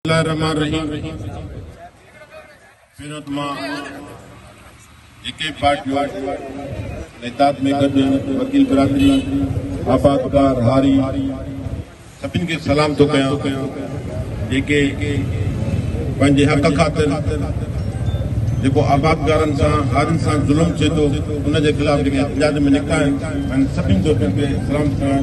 الله الرحمٰن الرحيم سيرت مان جيڪي پارٽيون نيتات ۾ گڏ وڪيل برادري آبادگار هاري سڀن کي سلام ٿو ڪيان جيڪي پنهنجي حق خاطر جيڪو آبادگارن سان هارين سان ظلم ٿئي ٿو ان جي خلاف جيڪي احتجاج ۾ نڪتا آهن سڀن جو سلام ڪيان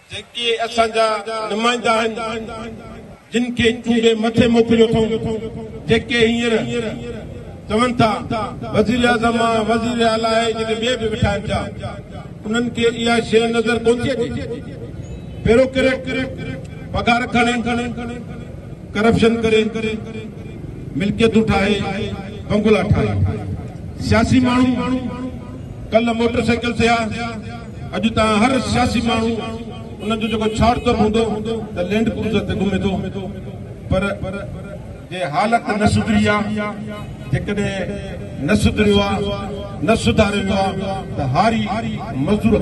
جيڪي اسان جا نمائندا آهن، جن کي چونڊي مٿي موڪليو اٿئون، جيڪي هينئر چون ٿا، وزيراعظم آن وزير اعليٰ اهي جيڪي ٻئي به ويٺا آهن پيا، انهن کي اها شيء نظر ڪونه ٿي اچي، بيوروڪريٽ پگهار کڻي، ڪرپشن ڪري، ملڪيتون ٺاهي، بنگلا ٺاهي، سياسي ماڻهو، ڪلهه موٽرسائيڪل تي ها. اڄ تان هر سياسي ماڻهو انهن جو جيڪو ڇاڙتب هوندو ته لينڊ ڪروزر تي گهمي ٿو پر جي حالت نه سڌري آ جيڪڏهن نه سڌريو آ نه سڌاريو ويو آ ته هاري مزدور